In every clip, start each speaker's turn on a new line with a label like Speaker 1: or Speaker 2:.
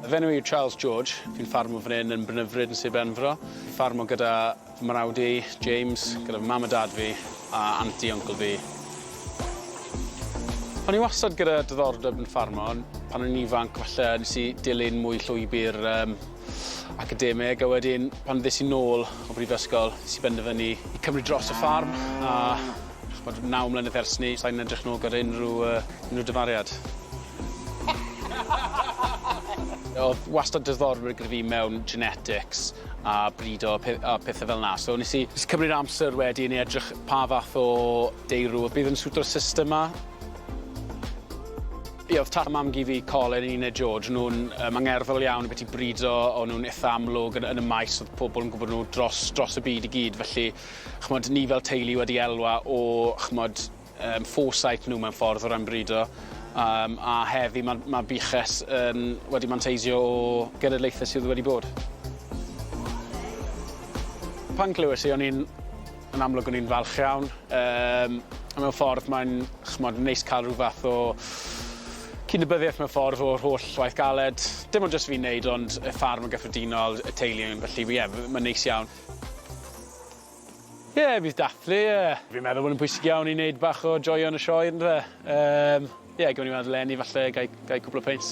Speaker 1: Fy enw i yw Charles George, fi'n ffarmwr fan hyn yn Brynyfryd yn Sir Benfro. Fi'n ffarmo gyda fy mrawd i, James, gyda fy mam a dad fi, a anti uncl fi. O'n i wastad gyda diddordeb yn ffarmo, ond pan o'n i'n ifanc falle nes i dilyn mwy llwybr um, academeg a wedyn pan ddes i nôl o brifysgol nes i benderfynu i cymryd dros y ffarm a ch'mod naw mlynedd ers 'ny sai'n edrych nôl gyda unryw yy unryw dyfariad. O'dd wastad diddordeb gyda fi mewn genetics a brido a pe- a pethe fel 'na so nes i nes i cymryd amser wedyn i edrych pa fath o deirw o'dd bydd yn siwto'r system 'ma. Ie, oedd tad a mam-gu fi, Colin a Nina George, nhw'n um, angerddol iawn y beth i brido, o'n nhw'n eitha amlwg yn, yn y maes, oedd pobl yn gwybod nhw dros, dros y byd i gyd, felly chmod, ni fel teulu wedi elwa o chmod, um, foresight nhw mewn ffordd o ran brido, um, a heddi mae ma buches um, wedi manteisio o genedlaethau sydd wedi bod. Pan clywes i, o'n i'n Yn amlwg o'n i'n falch iawn. Um, mewn ffordd mae'n chmod, neis cael rhyw fath o cydnabyddiaeth mewn ffordd o'r holl waith galed. Dim ond jyst fi'n neud ond y ffarm yn gyffredinol, y teulu yn felly ie, yeah, mae'n neis iawn. Ie, yeah, bydd dathlu, ie. Yeah. Fi'n meddwl bod yn pwysig iawn i wneud bach o joio yn y sioe, yn fe? Ie, um, yeah, gwn i weld Lenny falle, gai, gai cwpl o peint.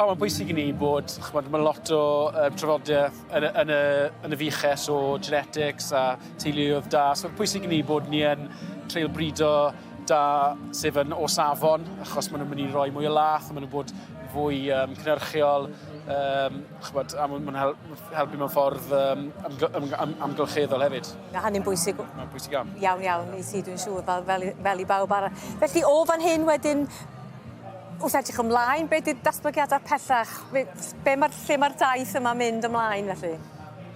Speaker 2: O mae'n bwysig
Speaker 1: i ni bod ch'mod ma' lot o yy trafodieth yn y yn y yn y fuches o genetics a teuluoedd da so pwysig i ni bod ni yn treial brido da sydd yn o safon achos ma' nw'n myn' i roi mwy o lath a ma' nw'n bod fwy yym cynyrchiol yym ch'mod a ma' ma'n hel- helpu mewn ffordd yym amgy- ymg- am- amgylcheddol hefyd. Ma' hynny'n bwysig w-...
Speaker 2: Ma'n bwysig iawn.
Speaker 1: Iawn iawn i ti dwi'n
Speaker 2: siŵr fel fel i fel i bawb arall. Felly o fan hyn wedyn Wrth edrych ymlaen, be di'r datblygiadau pellach? Be, be mae'r lle mae'r daith yma mynd ymlaen felly?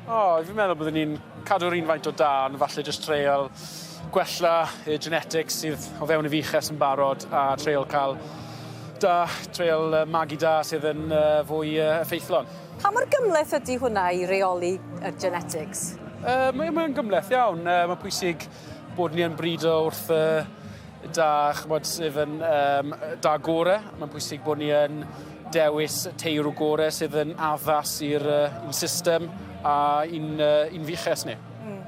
Speaker 2: O, oh, fi'n meddwl
Speaker 1: byddwn ni'n cadw'r un faint o da, ond falle jyst treol gwella y genetics sydd o fewn y fiches yn barod a treol cael da, treol magu da sydd yn fwy effeithlon. Pa mor gymleth ydy hwnna i reoli y genetics? Uh, Mae'n mae gymleth iawn. Uh, mae pwysig bod ni yn brido wrth uh, da, chymod, sydd yn um, da gore. Mae'n bwysig bod ni yn dewis teirw gore sydd yn addas i'r uh, system a i'n uh, un fiches ni. Mm.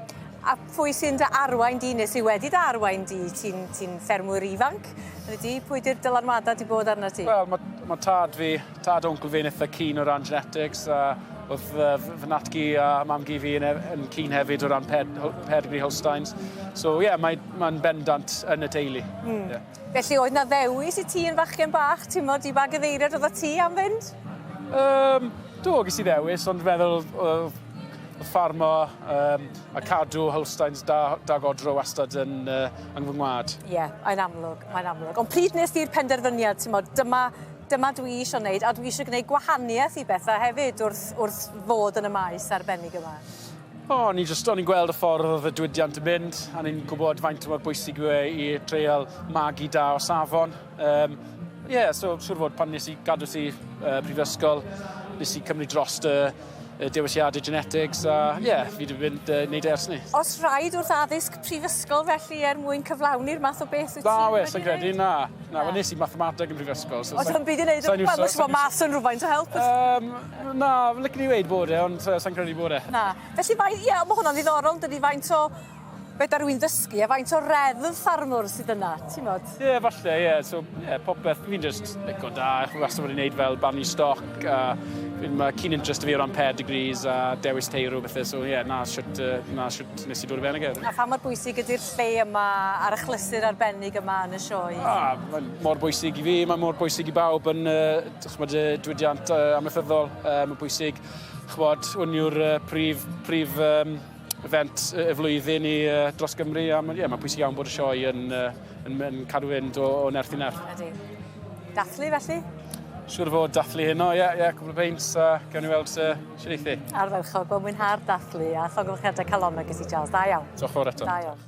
Speaker 1: A pwy
Speaker 2: sy'n dy arwain di, neu sy'n wedi dy arwain di? Ti'n ti ffermwyr ifanc? Ydy, pwy di'r dylanwadau di bod arno ti? Wel, mae ma tad
Speaker 1: fi Tad a uncl fi'n eitha keen o ran genetics a oedd fy natgi a mam-gu fi yn, e-, yn keen hefyd o ran ped, pedigree Holsteins. So ie, yeah, mae'n mae bendant yn y teulu. Mm. Yeah. Felly oedd
Speaker 2: na ddewis i ti yn fachgen bach, ti'n modd, i ba gyfeiriad oedd o ti am fynd? Um,
Speaker 1: do, ges i ddewis, ond feddwl oedd ffarmo um, a cadw Holsteins da, da godro wastad yn, uh, yng fy ngwad. Ie, yeah, mae'n amlwg,
Speaker 2: mae'n amlwg. Ond pryd nes di'r penderfyniad, ti'n modd, dyma Dyma dwi isio wneud a dwi isio gwneud gwahaniaeth i bethau hefyd wrth, wrth fod yn y maes arbennig yma. O, o'n i jyst,
Speaker 1: o'n i'n gweld y ffordd oedd y diwydiant yn mynd, a ni'n gwybod faint mor bwysig yw e i dreial magu da o safon. Um, yeah, so siwr fod pan nes i gadw ti uh, prifysgol, nes i cymryd dros dy y dewisiadau genetics a ie, yeah, fi wedi mynd uh, wneud e ers ni. Os rhaid wrth
Speaker 2: addysg prifysgol felly er mwyn cyflawni'r math o beth wyt ti wedi gwneud? Na, credu, na.
Speaker 1: Na, na. nes i mathemateg yn prifysgol. So, Os yn byd i wneud, mae'n
Speaker 2: mwysig bod mas yn rhywfaint o help. Um, na,
Speaker 1: lycyn i wneud bod e, ond uh, sa'n credu bod e. Na. Felly, mae, ie,
Speaker 2: yeah, mae hwnna'n ddiddorol, dydy faint o Fedar rwy'n ddysgu a faint o reddf ffarmwr sydd yna, ti'n bod? Ie, yeah, falle, ie. Yeah. So, ie,
Speaker 1: yeah, popeth. Fi'n just lico da. Chwi wastad wedi gwneud fel barnu stoc. A fi'n ma cyn interest fi o ran pedigrees a dewis tei rhyw bethau. So, ie, yeah, na siwt, uh, na siwt nes i dod i fewn ag A pha mor bwysig ydy'r
Speaker 2: lle yma a'r achlysur arbennig yma yn y sioe? Ah, mae'n mor
Speaker 1: bwysig i fi, mae'n mor bwysig i bawb yn, uh, chymod, uh, diwydiant uh, amaethyddol. Uh, mae'n bwysig, chymod, hwn yw'r uh, prif, prif um, event y flwyddyn i uh, dros Gymru a mae'n yeah, ma pwysig iawn bod y sioe yn, uh, yn, yn cadw fynd
Speaker 2: o, o
Speaker 1: nerth i nerth. Ydy.
Speaker 2: Dathlu
Speaker 1: felly? Siwr o fod dathlu hyn o, ie, yeah, ie, yeah, cwbl o beint, a uh, gawn ni weld uh, sy'n eithi.
Speaker 2: Arferchog, wel
Speaker 1: mwynhau'r
Speaker 2: dathlu a llogwch edrych calonau gysi Charles, da
Speaker 1: iawn.
Speaker 2: Diolch
Speaker 1: fawr
Speaker 2: eto. Da iawn.